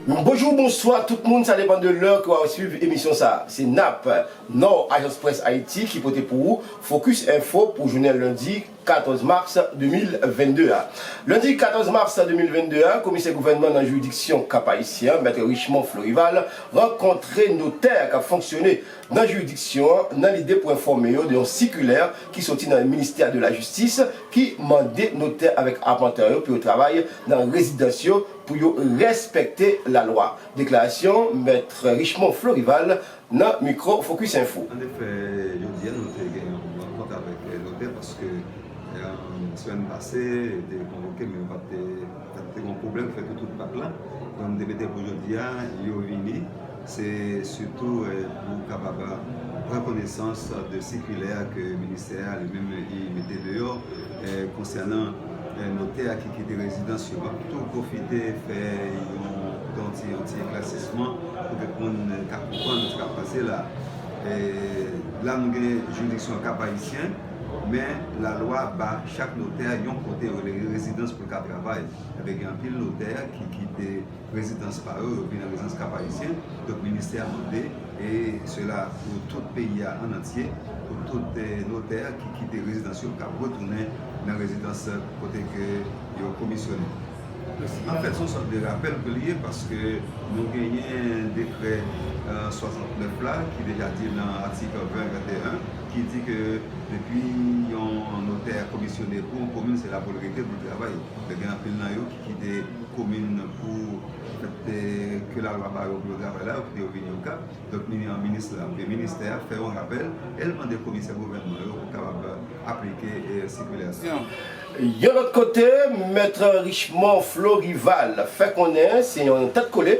Bonjou, bonswa tout moun, sa depan de lè ke w ap swiv emisyon sa. Se nap, Nord, Ajans Près Ayiti ki pote pou ou Focus Info pou jounen lendi 14 mars 2022 a. Lendi 14 mars 2022 a, Komisè Gouvènman nan jiridiksyon Kap-Ayisyen an, Mèt Richemond Florival, rankontre notè k ap fonksyone nan jiridiksyon an nan lide pou enfòme yo de yon sikilè ki soti nan ministè de la jistis ki mande notè avèk apantè yo pou yo travay nan rezidans yo pou yo respekte lalwa. Deklarasyon Mètre Richemond Florival nan mikwo Focus Info. An efè, jodi a nou te gen yon rankont avèk notè paske semèn pase yo te konvoke men yo pa te Sa te gon pwoblèm fè pou tout pap la, donk m te mete pou jodi a yo vini, se sitou pou kapab pran konesans de sikilè ke ministè a li menm li mete deyò konsènan notè a ki kite rezidans yo. M ap tou pwofite fè yon ti eklèsisman pou tout moun ka konprann sa k ap pase la a. La nou gen jiridiksyon Kap Ayisyen, men lalwa ba chak notè yon kote yo rele rezidans. pou ka travay. Enben gen anpil notè ki kite rezidans pa yo, yo vin nan rezidans Kap Ayisyen. Donk ministè a mande, e sela pou tout peyi a an antye, pou tout notè ki kite rezidans yo kab retounen nan rezidans kote ke yo komisyonnen. Anfèt, se yon sòt de rapèl ke li ye paske nou genyen dekrè 69 la ki deja di nan atik 20, 21, ki di ke depi yon notè komisyone pou yon komin se la pou l rete pou l travay lè gen anpil nan yo ki kite komin pou fè ke lalwa ba yo pou yo travay la yo kite yo vini okap donk minis la oubyen ministè a fè yon rapèl e l mande komisè gouvènman yo pou kapab aplike sikilè sa. Yon lòt kote, mèt Richemond Florival fè konnen se yon tèt kole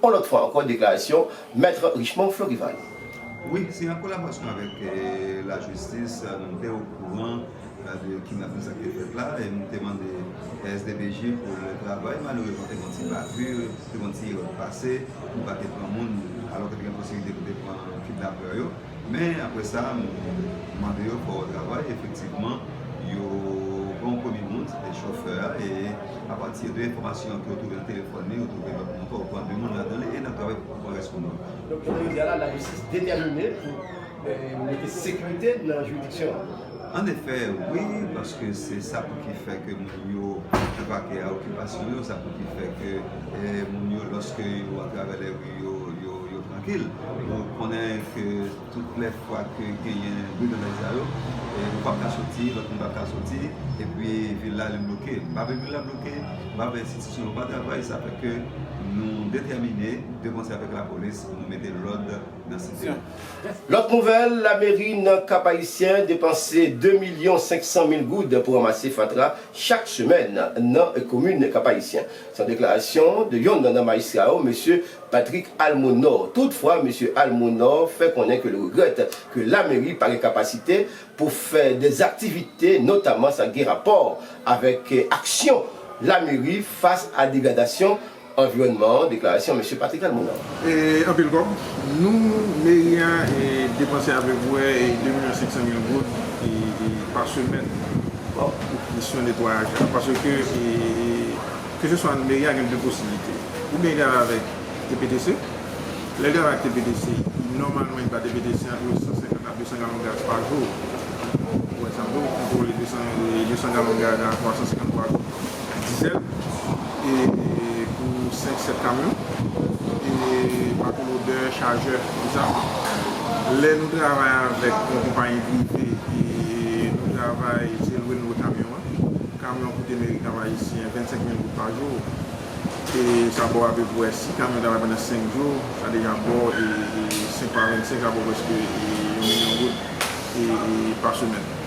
On lòt fwa ankò deklarasyon Maître Richemond Florival. Wi, se an kolaborasyon avèk lajistis nou te okouran de kidnapin sa k te fèt la e nou te mande SDPJ pou l travay. Malerezman te gen yon ti bavure, te gen yon ti erè k pase, nou pa te pran moun alò ke te gen posiblite pou te pran kidnapè yo. Men, apre sa, nou mande yo fè yon travay. Efektivman, yo pran yon premye moun, se te chofè a, e apati de enfòmasyon ke yo twouve nan telefòn li, yo twouve lòt moun tou, yo pran de moun ladan li, e n ap travay pou pran rès moun yo. Donk, jounen jodi a la, lajistis detèmine pou mete sekirite nan jiridiksyon an. An efè, wi, paske se sa pou ki fè ke moun yo epake a okipasyon yo, sa pou ki fè ke moun yo lòske yo atravè lèri yo, yo trankil. Ou konnen ke tout lè fwa ke genyen briganday sa yo, ou pap ka soti, lòt moun pap ka soti, epi vil la li bloke. M pa vle vil la bloke, m pa vle enstitisyon yo pa travay, sa fè ke nou detèmine, de konsè avèk lapolis, pou nou mete lòd nan site a. Lòt nouvèl, Lameri nan Kap Ayisyen depanse 2 milyon 500 mil goud pou ranmase fatra chak semèn nan komin Kap Ayisyen. Se yon deklarasyon de yonn nan majistra yo, mesye Patrick Almonor. Tout fwa, mesye Almonor fè konnen ke li regrèt ke Lameri pa gen kapasite pou fè dè aktivite notaman sa ki gen rapò avèk aksyon Lameri fas a degradasyon Anviwònman an, deklarasyon Mesye Patrick Almonor. E anpil kòb nou meri a depanse apeprè 2 milyon 500 mil goud pa semèn pou kesyon netwayaj la. Paske keseswa meri a gen 2 posiblite, oubyen li al avèk TPTC, lè li al avèk TPTC nòmalman li ba TPTC antre 150 a 200 galon gaz pa jou, ou wè sa vre, ou kontwole 200 galon gaz a 350 pa jou. dizèl e pou 5 7 kamyon e bato lodè chajè konsa lè nou travay avèk yon konpayi prive e nou travay se lwe nou lwe kamyon an kamyon an koute meri kap ayisyen 25 mil goud pa jou e sa baw apepwè si kamyon travay pandan 5 jou sa deja baw 5 fwa 25 sa baw prèske yon milyon goud e pa semèn.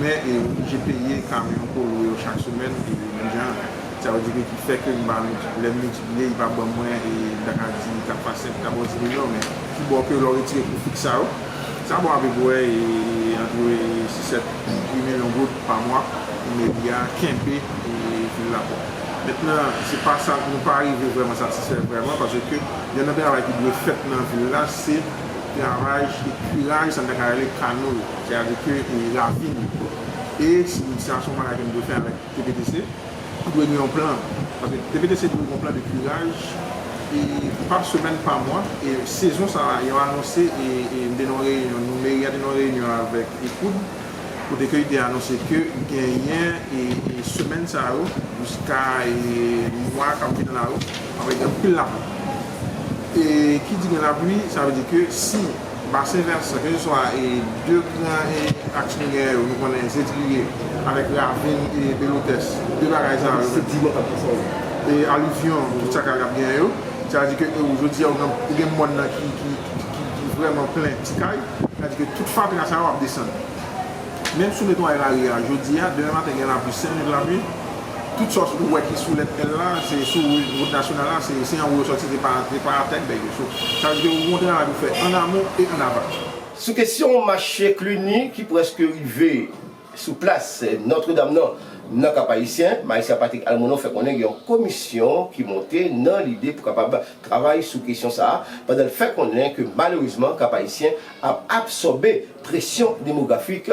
Men e oblije peye kamyon pou lwe yo chak semèn e menm jan an. Sa vle di ke ki fè ke m pa miltip, lè m miltipliye li pa ban mwen e m ta ka di ta fwa 5, ta ba w 10 milyon men ki bo ke lè w retire kou fiks sa yo, sa ba w apepwè e antre e 6, 7, 8 milyon goud pa mwa pou meri a kenbe e fil la pwòp. Mentnan se pa sa, nou pa rive vrèman satisfè vrèman pase ke yonn nan travay ki dwe fèt nan vil la se kravay e kiraj sa m ta ka rele kano yo. Se a di ke e ravin e si sinyasyon bagay ke nou dwe fè avèk TPTC ki dwe gen yon plan. Paske TPTC dwe gen yon plan de kiraj e pa semèn, pa mwa. E sezon sa a yo anonse e m te nan yon reyinyon, meri a te nan yon reyinyon avèk ECOUD kote ke yo te anonse ke genyen e semèn sa yo jiska e mwa k ap vini la yo ap gen anpil lapli. E ki di gen lapli sa vle di ke si. Basen vèsan, keseswa e 2 gran e aks minyè yo, nou konnen Zedriye avèk ravin e Belotès, 2 bagay sa yo menm. E alivyon, tout sa kay la ap genyen yo. Sa vle di ke e ou jodi a ou gen mòn nan ki vrèman plen ti kay, sa vle di ke tout fatra sa yo ap desann. Menm sou netwayè lari a, jodi a, demen maten gen lapli, 5 minit lapli, Tout sa ou wè ki sou lèt L la, se sou wout nasyonal la, se anwo yo sòti, se pa atè bèk yo. So, sa vle di gen yon bon travay pou fè an amon e an aval. Sou kesyon mache Cluny ki prèske rive sou plas Nòtredam nan, nan Kap-Ayisyen, Majistra Patrick Almonon fè konnen gen yon komisyon ki monte nan lide pou kapab travay sou kesyon sa a, pandan l fè konnen ke malerezman Kap-Ayisyen ap absòbe presyon demografik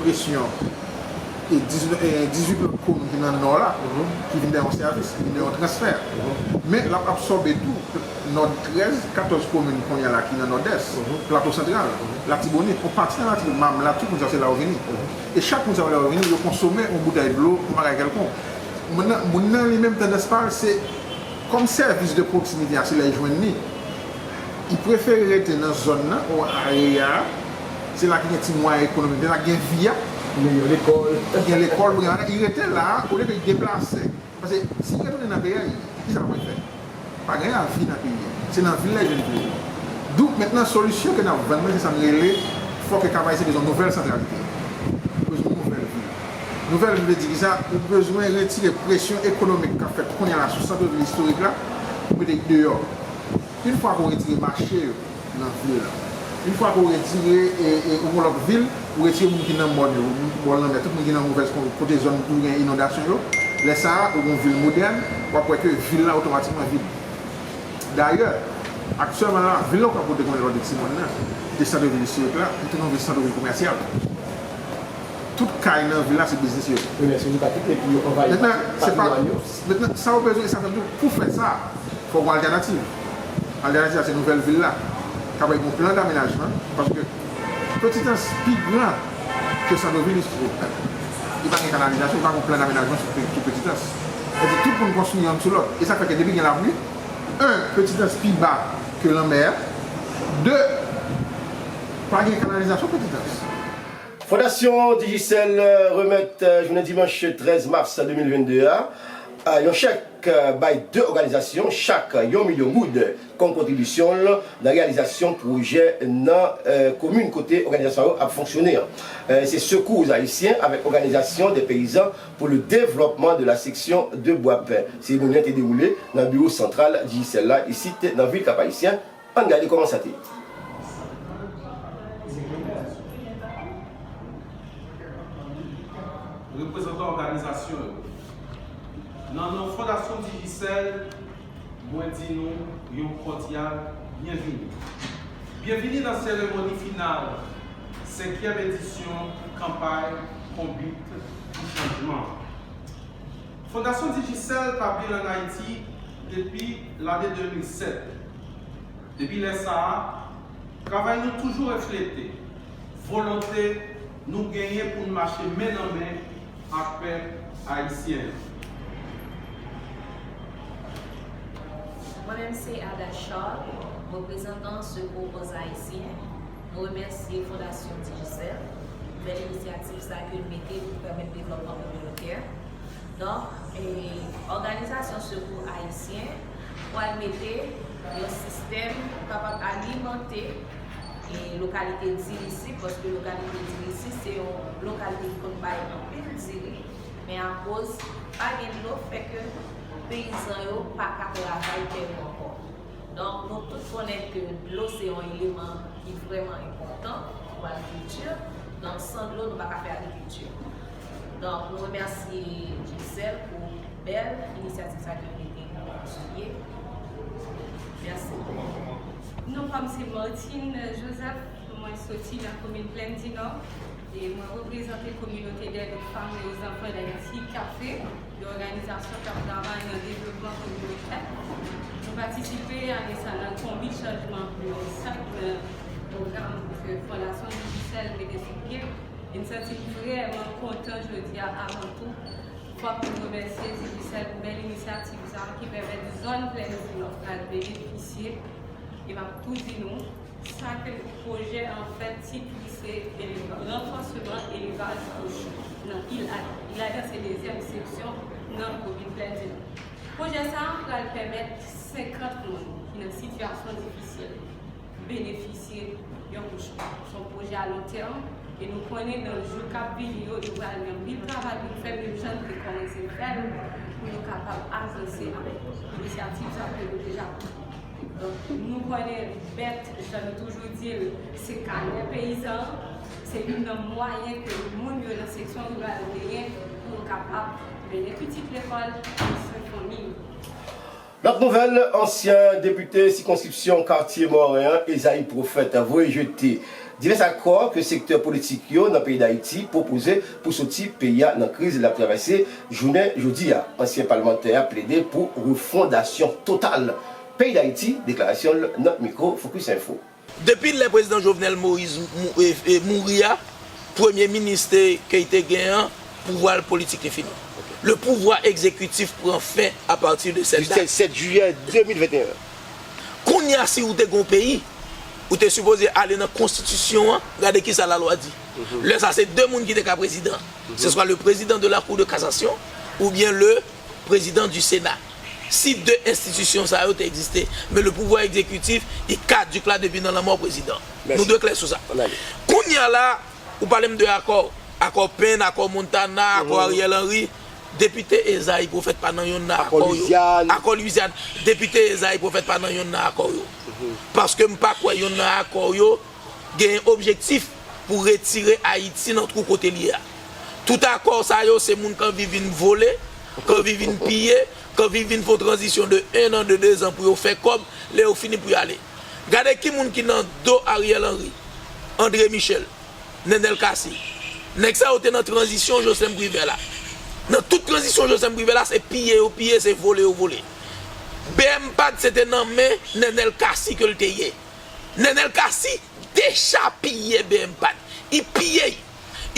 presyon e 18 lòt komin ki nan nò la ki vin bay yon sèvis, ki vin bay yon transfè. Men, l ap absòbe tou nò 13, 14 komin kounye a la ki nan Nòdès, Plato Santral, Latibonit, yon pati nan Latibonit, Mamlè ak tout moun sa yo se la yo vini. E chak moun sa yo lè yo vini, yo konsome yon boutèy dlo, yon bagay kèlkonk. Mennan, moun nan li menm tandans pa l se kòm sèvis de pwoksimite a se lè l jwenn li, li prefere rete nan zòn nan ou areya a. Se la ki gen ti mwayen ekonomik, se la ki gen vi a. Li gen lekòl. Li gen lekòl pou gen bagay. Li rete la a olye ke li deplase. Pase si li retounen nan peyi a, ki sa l pral fè? Pa gen lavi nan peyi a. Se nan vil la li jwenn plezi. Donk mentnan solisyon ke n ap vann lan se sa n rele fò ke Kavay se bezwen nouvèl santralite. Li bezwen nouvèl vi. Nouvèl vi vle di ki sa? Ou bezwen retire presyon ekonomik k ap fèt kounya la sou santre vil istorik la pou mete deyò. Une fwa ke ou retire mache yo. nan vil la. Une fwa ke ou retire e ou gon lòt vil, ou retire moun ki nan mòn yo, moun ki bò lanmè, tout moun ki nan movèz kon, kote zòn ki gen inondasyon yo, lè sa a ou gon vil modèn, w ap wè ke vil la otomatikman vid. Dayè, aktyèlman la, vil la ou pa kote konnen lò de ti mòn nan, de sante vil istorik la, li tounen yon vil sante vil komèsyal. Tout kay nan vil la se biznis yo ye. Wi men se nou pa kite epi yo anvayi pati mòn yo. Maintenant, sa ou bezwen e sa menm tou, pou fè sa, fò gon altènativ. Altènativ la se nouvèl vil la k ap bay gon plan damenajman paske Petitans pi gran ke Sandovi li fo. Li pa gen kanalizasyon, li pa gon plan damenajman sou Petitans. Sa di tout moun konstwi yonn sou lòt. E sa fè ke depi gen lapli, 1 Petitans pi ba ke lanmè a, 2 pa gen kanalizasyon Petitans. Fondasyon Digicel remèt jounen dimanch 13 mas 2022 a yon chèk bay 2 òganizasyon chak yon milyon goud kòm kontribisyon l nan reyalizasyon pwojè nan komin kote òganizasyon sa yo ap fonksyone an. Se Secours Haïtiens avèk Organisation des Paysans pour le Développement de la Section de Boipin. Seremoni an te dewoule nan biwo santral Digicel la isit nan vil Kap-Ayisyen. Ann gade kòman sa te ye. Reprezantan òganizasyon yo. Nan non Fondasyon Digicel, mwen di nou yon kòdyal byenvini. Byenvini nan seremoni final senkyèm edisyon kanpay Konbit pou Chanjman. Fondasyon Digicel tabli l ann Ayiti depi lane 2007. Depi lè sa a, travay nou toujou reflete volonte nou genyen pou n mache men nan men ak pèp ayisyen an. Mwen menm se Ada Charles, reprezantan Sekou Pòs Ayisyen. Nou remèsye Fondasyon Digicel pou bèl inisyativ sa ke l mete pou pèmèt devlòpman kominotè. Donk, òganizasyon sekou ayisyen pwal mete yon sistèm pou kapab alimante lokalite diri si, paske lokalite diri si se yon lokalite ki konn bay anpil diri, men akoz pa gen dlo fè ke peyizan yo pa ka travay tè yo ankò. Donk, nou tout konnen ke dlo se yon eleman ki vrèman enpòtan pou agrikilti, donk san dlo nou pa ka fè agrikilti. Donk nou remèsye Gisèle pou bèl inisyativ sa ke li te kontinye. Mèsi. Non pa m se Martine Joseph, mwen soti nan komin Plèn di Nò e mwen reprezante kominote dèd ou fanm e ozanpwen dayiti KAFE, yon òganizasyon k ap travay nan devlopman kominotè. Nou patisipe ane sa nan konbit chanjman pou yon sak nan pwogram ke Fondasyon Digicel mete sou pye. E m santi m vrèman kontan jodi a avan tou fòk m remèsye Digicel pou bèl inisyativ sa ki pèmèt zòn Plènvi Nò pral benefisye e m ap tou di nou sa ke pwojè an fè ti plis se ranfòseman elvaj kochon nan Il Adan. Il Adan se dezyèm seksyon nan komin Plènvi Nò. Pwojè sa pral pèmèt 50 moun ki nan sitiyasyon difisil benefisye yon kouch pa kouch. Se yon pwojè a lon tèm e nou konnen nan jou k ap vini yo, nou pral gen anpil travay pou nou fè menm jan nou te kòmanse fè l pou nou kapab avanse avèk inisyativ sa ke nou deja pran. Donk, nou konnen bèt, jan nou toujou di l, se kanè peyizan an. Se youn nan mwayen ke moun yo nan seksyon riral yo genyen pou yo kapab mennen pitit lekòl, pran swen fanmi yo. Lòt nouvèl, ansyen depite sikonskripsyon Katye Moren an, Esaïe Prophète voye jete divès akò ke sektè politik yo nan peyi Dayiti pwopoze pou soti peyi a nan kriz lap travèse jounen jodi a. Ansyen palmantè a plede pou refondasyon total peyi Dayiti, deklarasyon l nan mikwo Focus Info. Depi lè prezidan Jovenel Moise mouri a, premye minis te key te gen an, pouvwa l politik li fini. Le pouvwa ekzekitif pran fen a pati de sèt dat. Du 7 jiyè 2021. Kounye a si ou te gen yon peyi, ou te sipoze ale nan konstitisyon an gade kisa lalwa di. Lè sa se 2 moun ki te ka prezidan. Se swa le prezidan de la kou de kasasyon oubyen le. Prezidan du Sena. Si de enstitisyon sa yo te egziste, men le pouvwa egzekitif i kaduk la depi nan lanmò prezidan. Nou dwe klè sou sa. Kounye a la, ou pale m de akò, akò Pen, akò Montana, akò Ariel Henry, Depite Esaïe Prophète pa nan yonn nan akò yo. Akò Louisiane, Depite Esaïe Prophète pa nan yonn nan akò yo. Paske m pa kwè yonn nan akò yo genyen objektif pou retire Ayiti nan twou kote l ye a. Tout akò sa yo se moun k anvi vin vole, k anvi vin piye, k anvi vin fon tranzisyon de 1 an, de 2 zan pou yo fè kòb, lè yo fini pou y ale. Gade ki moun ki nan do Ariel Henry, André Michel, Nenel Cassy. Nèg sa yo te nan tranzisyon Joslèm Privè la. Nan tout tranzisyon Joslèm Privè la se piye yo piye, se vole yo vole. BMPAD se te nan men Nenel Cassy ke l te ye. Nenel Cassy deja piye bmpad I piye I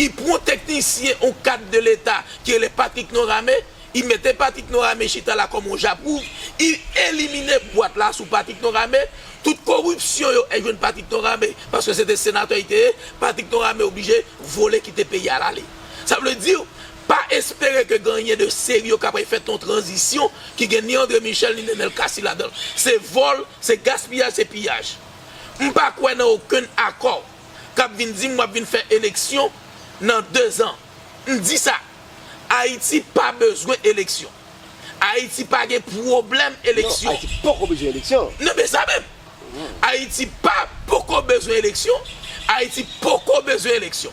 I pran teknisyen on kad de leta ki rele Patrick Norame I mete Patrick Norame chita la kòm on japwouv I elimine bwat la sou Patrick Norame tout koripsyon yo è jwenn Patrick Norame paske se te senatè I te ye Patrick Norame oblije vole kite peyi al ale sa vle diw Pa espere ke gen anyen de serye k ap fèt nan yon tranzisyon ki gen ni André Michel ni Nenel Cassy ladan l. Se vòl, se gaspiyaj, se piyaj. M pa kwè nan okenn akò k ap vin di m w ap vin fè eleksyon nan dezan. M di sa, Ayiti pa bezwen eleksyon. Ayiti pa gen pwoblèm eleksyon. Non, Ayiti poko bezwen eleksyon. Non, men sa menm! Ayiti pa poko bezwen eleksyon, Ayiti poko bezwen eleksyon.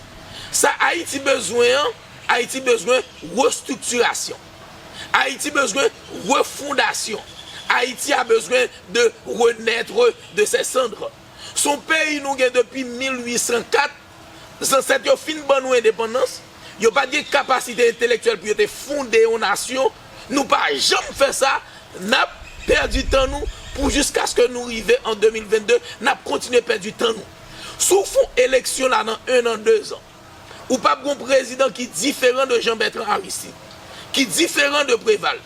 Sa Ayiti bezwen an, Ayiti bezwen restriktirasyon. Ayiti bezwen refondasyon. Ayiti a bezwen de renaître de ses cendres. Son peyi nou gen depi 1804, Zansèt yo fin ban nou endepandans, yo pa t gen kapasite entelektyèl pou yo te fonde yon nasyon, nou pa janm fè sa, n ap pèdi tan nou pou jiskaske nou rive an 2022 n ap kontinye pèdi tan nou. Si w fon eleksyon la nan 1 an, 2 zan, ou p ap gen yon prezidan ki diferan de Jean Bertrand Aristide, ki diferan de Preval.